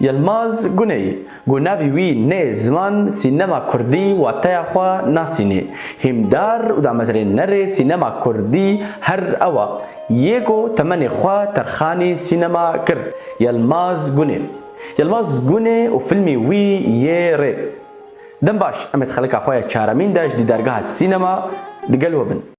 Yilmaz Guney, ku navê wî nê ziman sînema kurdî wateya xwe nasînê, hîmdar û damezrênerê sînema kurdî her ewa yê ku temenê xwe terxanî sînema kir, Yilmaz Gunê Yilmaz Gunê û fîlmê wî yê Rê. Dem baş, em ê di xelika xwe ya çaremîn de ji dîdargeha sînema digel we bin.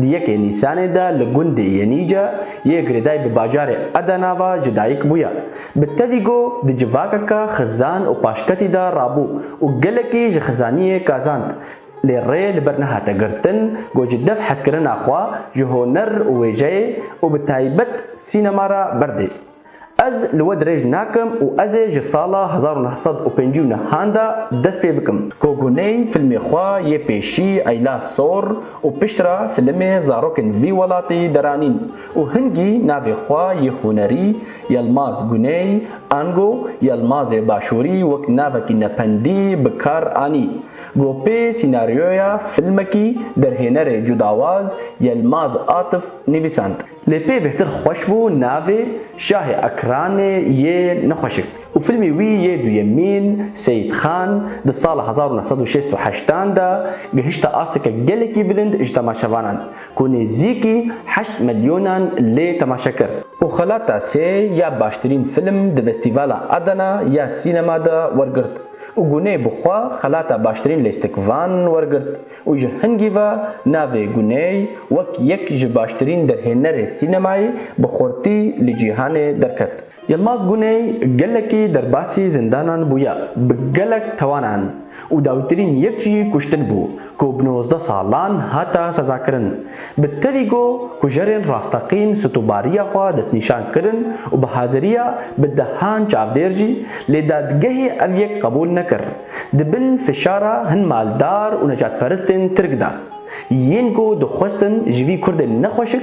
Di yekê Nîsanê de li gundê Yenîce yê girêdayî bi bajarê Edena ve ji dayik bûye. Bi tevî got di civakeke xizan û paşketî de rabû û gelekî ji xizaniyê kazand. Lê rê li ber nehate girtin ku ji dev hezkirina xwe ji honer û wêjeyê û bi taybet sînema re berdê. Ez li we dirêj nakim û ez ê ji sala hezar û neh sed û pêncî û nihan de dest pê bikim. Koguney filmê xwe yê pêşî Eyla Sor û piştre filimê Zarokên vî welatî deranîn û hingî navê xwe yê hunerî Yelmaz Guney, ango Yelmazê Başûrî wek navekî nependî bi kar anî. Gopê sînaryoya filmekî derhênerê cudawaz Yelmaz Atif nivîsand. Lê pê bêhtir xweş bû navê Şahê Ekranê yê nexweşik û filmê wî yê duyemîn Seyîd Xan di sala hezar û neh sed û şêst û heşt an de gihişte asteke gelekî bilind ji temaşevanan ku nêzîkî heşt milyonan lê temaşe kir û xelata sê ya baştirîn film di Vestîvala Adana ya Sînema de wergirt û gunê bi xwe xelata baştirîn lêstikvan wergirt. û ji hingî ve navê Guney wek yek ji baştirîn derhênerê sînemayê bi xurtî li cîhanê derket. Yilmaz Guney gelekî derbasî zindanan bûye, bi gelek tawanan û dawîtirîn yek jî kuştin bû ku bi nozdeh salan hate sezakirin. Bi tevî got ku jerên rasteqîn stûbariya xwe destnîşan kirin û bi haziriya bi dehan çavdêr jî, lê dadgehê ev yek qebûl nekir. Di bin fişara hin maldar û necatperistên Tirk de, yên ku dixwestin ji vî Kurdên nexweşik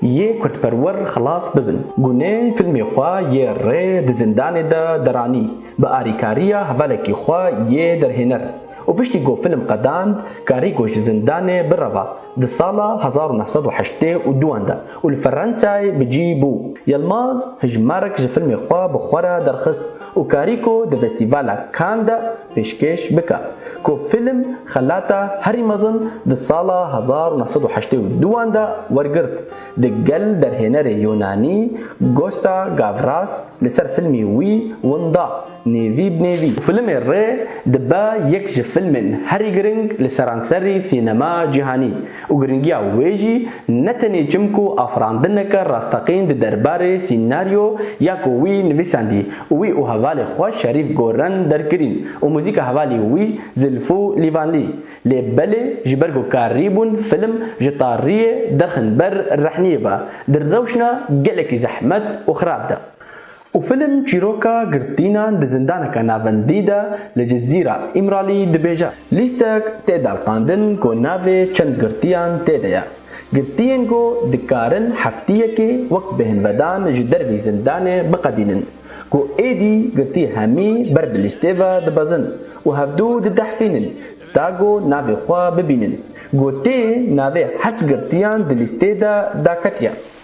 yê Kurdperwer xilas bibin. Gûnên filmê xwe yê rê di zindanê de deranî bi arîkariya hevalekî xwe yê derhêner û piştî ku film qedand karîko ji zindanê bireva di sala hezar û neh sed û heştê û du an de û li Ferensayê bi cî bû. Yilmaz hijmarek ji filmê xwe bi xwe re derxist û karî ku di Festîvala Cannes de pêşkêş bike ku fîlm xelata herî mezin di sala hezar û neh sed û heştê û du an de wergirt di gel derhênerê Yûnanî Gosta Gavras li ser fîlmî wî winda nêvî bi nêvî. Fîlmê Rê dibe yek ji fîlmên herî giring li seranserî sînema cîhanî. Û giringiya wê jî ne tenê çimkû afirandineke rasteqîn di derbarê sînaryo ya ku wî nivîsandî û wî û hevalê xwe Şerîf Goren derkirîn û muzîka hevalî wî Zilfû Lîvanlî lê belê ji ber ku karîbûn film ji tariyê derxin ber rehniyê be di rewşna gelekî zehmet û xirab de. Û film çîroka girtînan di zindaneke navendî de li Cizîra Îmralî dibêje. Lîstek tê delqandin ku navê çend girtîyan tê de ye. Girtîyên ku dikarin heftîyekê wek bêhnvedan ji dervî zindanê biqedînin, ku êdî girtî hemî ber bi lîstê ve dibezin û hevdu didehfînin ta ku navê xwe bibînin, gotê navê heft girtîyan di lîstê de daketiye.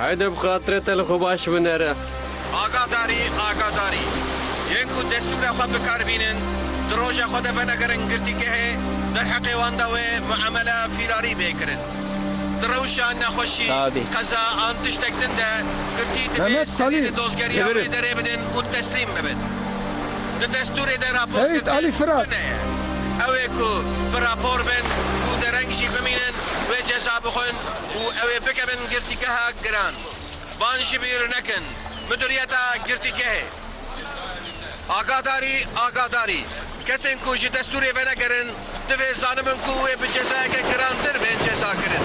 Heyde bi xatire te li xwe baş binere. Agadarî, Agadarî, yên ku destûra xwe bikar bînin, di roja xwe de bene gerin girtîgehê, derheqê wan de wê muemele fîrarî bê kirin. Di rewşa nexweşî, qeza an tiştek din de girtî divê serî li dozgeriya wê derê bidin û teslîm bibin. Di destûrê de raporkirtin tune ye. Ew ê ku bi rapor bin û dereng jî bimînin wê ceza bixwin. û ew ê bikevin girtîgeha giran. Van jî bîr nekin Miduriyeta Girtîgehê. Agadarî, Agadarî, Kesên ku ji destûrê venegerin divê zanibin ku wê bi cezayeke girantir bên cezakirin.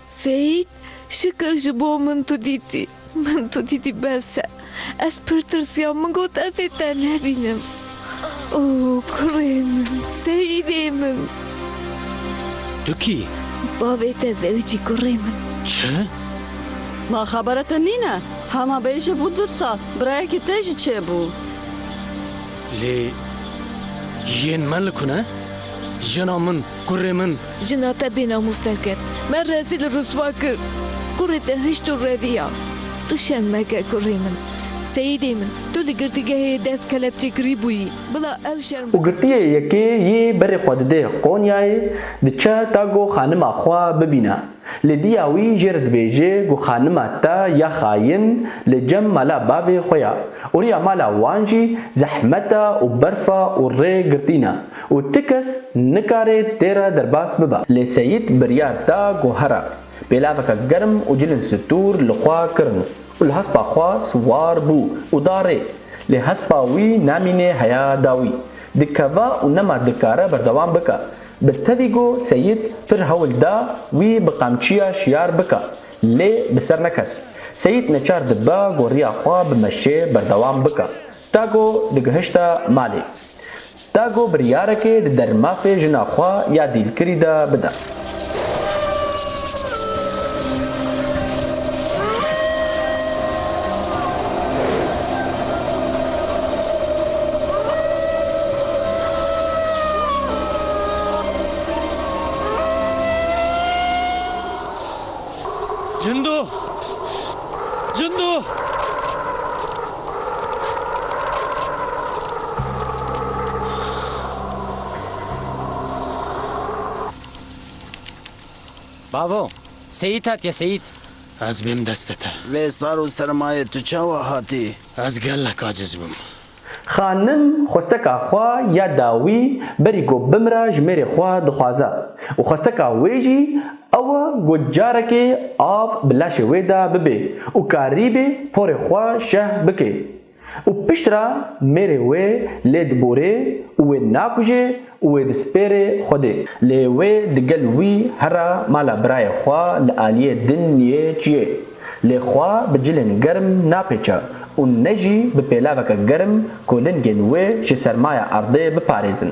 Seîd, Şikir ji bo min tu dîtî. Min tu dîtî bes e. Ez pir tirsiyam, min got ez ê te nebînim. Oo kurê min, Seîdê min. Tu kî yî? Bavê te zewicî kurê min. Çi? Ma xebere te nîne? Hema bêje bû du sal, birayekî te jî çêbû. Lê yên me li ku ne? Jina min, kurê min. Jina te bênamûs nekir. Me rezîl û rûswa kir. Kurê te hişt û reviya. Tu şerm meke kurê min. Seyîdê min, tu li girtîgehê yê dest kelepçekirî bûyî. Bila ew şerm. Û girtîyê yekê yê berê xwe didê Qonyayê, diçe ta ku xanima xwe bibîne. Lê dîya wî jê re dibêje ku xanima te ya xayin li cem mala bavê xwe ya. Û rîya mala wan jî zehmeta û berfa û rê girtî ne. Û ti kes nikarê tê re derbas bibe. Lê Seyîd biryar da ku here pêlaveke germ û cilên stûr li xwe kirin û li hespa xwe siwar bû û da rê. Lê hespa wî namînê heya dawî. Dikeve û nema dikare berdewam bike. Bi tevî ku Seyîd pir hewl da wî bi qamçiya şiyar bike. Lê bi ser nekes. Seyîd neçar dibe ku riya xwe bi meşê berdewam bike. Ta ku digihişte malê. da ku biryarekê di dermafê jina xwe ya dîlkirî de bida. Bavo, Seyît hatiye Seyît. Ez bêm destê te. Vê sar û sermayê tu çawa hatî? Ez gelek aciz bûm. Xanim xwesteka xwe ya dawî berî ku bimira ji mêrê xwe dixwaze û xwesteka wê jî Ewa ku carekê av bi laşê wê de bibê û karîbê porê xwe şeh bike û piştre mêrê wê lê diborê û wê nakujê û wê dispêrê Xwedê. Lê wê digel wî here mala birayê xwe li aliyê din niyê çiyê. Lê xwe bi cilên germ napêçe û ne jî bi pêlaveke germ ku lingên wê ji sermaya erdê biparêzin.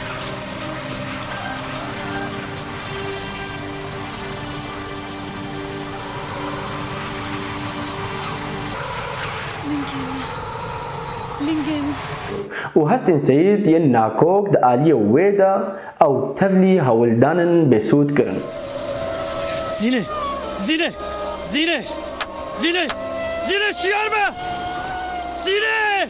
Lingê me. Lingê me. Û hestên Seyîd yên nakok di aliyê wê de ew tevlî hewldanin bêsûd kirin. Zîne! Zîne! Zîne! Zîne! Zîne! Şiyar be! Zîne!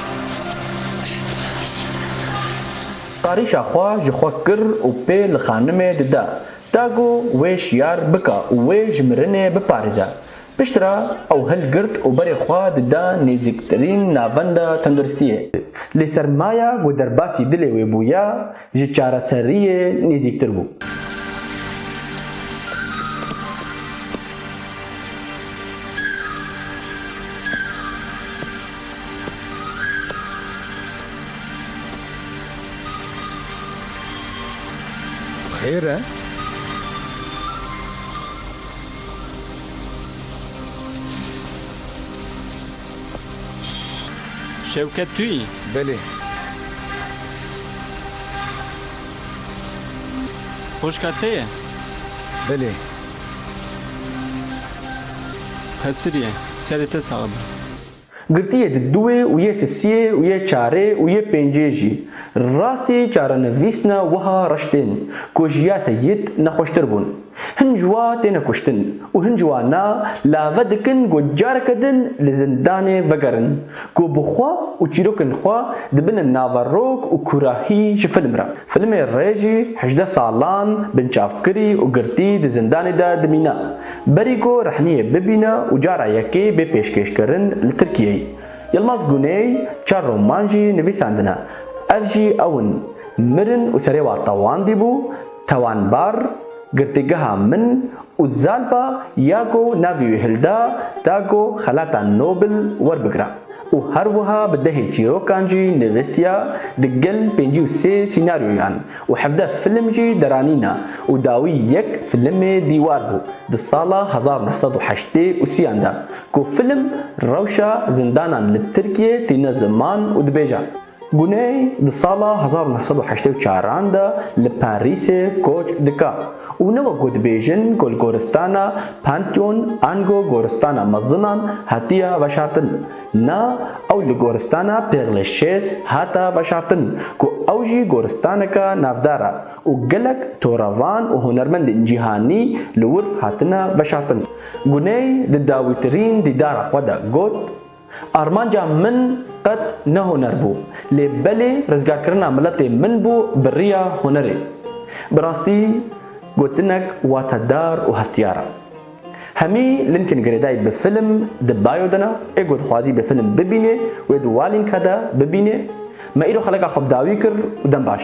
Qarîşa xwe ji xwe kir û pê li xanimê dide. Da ku wê şiyar bike û wê ji mirinê biparêze. Piştre ew hilgirt û berê xwe dide nêzîktirîn navenda tenduristiyê. Lê sermaya ku derbasî dilê wê bûye, ji çareseriyê nêzîktir bû. Xêr e? Şewket tu yî? Belê. Xwişka te ye? Belê. Xesirîye. Serê te sax be. Girtiyê di duwê û yê sisiyê û yê çarê û yê pêncê jî. Rastî çarenivîsna wiha reş tên ku ji ya seyîd nexweştir bûn. Hin ji wa têne kuştin û hin ji wa na lave dikin ku careke din li zindanê vegerin ku bi xwe û çîrokên xwe dibine nava rok û kurahî ji film re. Filmê rê jî hejdeh salan binçavkirî û girtî di zindanê de dimîne berî ku rehniyê bibîne û cara yekê bê pêşkêşkirin li Tirkiyeyê. Yilmaz Guney çar roman jî nivîsandine. Ev jî ew in, Mirin û Serê Wa Tewandî bû, Tawanbar, Girtîgeha min û Zalba ya ku navê wî hilda da ku xelata Nobel werbigira û her wiha bi dehê çîrokan jî nivîstiya di gel pêncî û sê sînaryoyan û hevdeh film jî deranîna û dawî yek filimê dîwar bû di sala hezar û neh sed û heştê û sî yan de ku film rewşa zindanan li Tirkiyê tîne ziman û dibêje. Guney di sala hezar û neh sed û heştê û çar an de li Penrîsê koç dike û ne wek ku dibêjin ku li goristana Pantheon ango goristana mezinan hatiye veşartin. Na, ew li goristana Pêxlê Şêz hate veşartin ku ew jî goristaneke navdar e û gelek torevan û hunermendên cîhanî li wir hatine veşartin. Guney di dawîtirîn dîdara xwe de got, Armanca min qet ne huner bû, lê belê rizgarkirina miletê min bû bi riya hunerê. Bi rastî gotinek watedar û heftiyar e. Hemî linkên girêdayî bi film di bio de ne, ê ku dixwazî bi film bibînê wê di wa linka de bibînê. Me îro xeleka xwe bi dawî kir û dem baş.